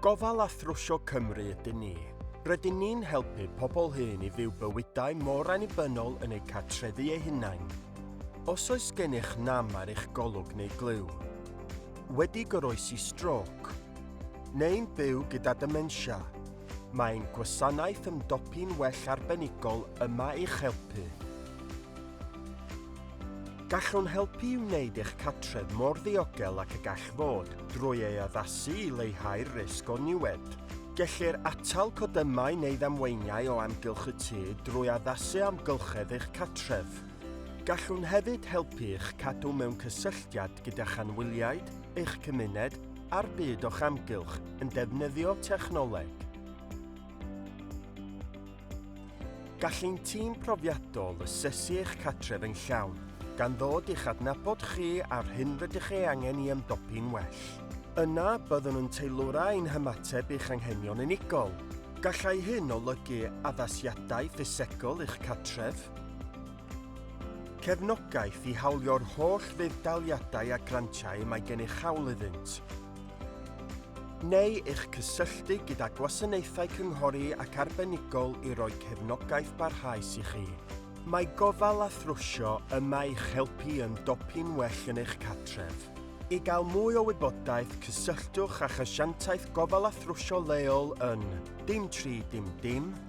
Gofal a Thrwsio Cymru ydyn ni. Rydyn ni'n helpu pobl hŷn i fyw bywydau mor annibynnol yn eu cartrefi eu hunain. Os oes gennych nam ar eich golwg neu glyw, wedi goroesi strôc, neu'n byw gyda dementia, Mae'n gwasanaeth ymdopi'n well arbenigol yma i'ch helpu. Gallwn helpu i wneud eich cartref mor ddiogel ac y gall fod drwy ei addasu i leihau'r risg o niwed. Gellir atal codymau neu ddamweiniau o amgylch y tŷ drwy addasu amgylchedd eich cartref. Gallwn hefyd helpu i'ch cadw mewn cysylltiad gyda'ch anwyliaid, eich cymuned a'r byd o'ch amgylch yn defnyddio technoleg. Gall ein tîm profiadol asesu eich catref yn llawn, gan ddod i'ch adnabod chi a'r hyn rydych ei angen i ymdopi'n well. Yna, byddwn yn teilwra ein hymateb i'ch anghenion unigol. Gallai hyn olygu addasiadau ffisegol i'ch catref, Cefnogaeth i hawlio'r holl fudd-daliadau a grantiau y mae gennych hawl iddynt, neu eich cysylltu gyda gwasanaethau cynghori ac arbenigol i roi cefnogaeth barhaus i chi. Mae gofal a thrwsio yma i'ch helpu yn dopyn well yn eich cartref. I gael mwy o wybodaeth, cysylltwch â'ch asiantaeth gofal a thrwsio leol yn dim tri dim dim.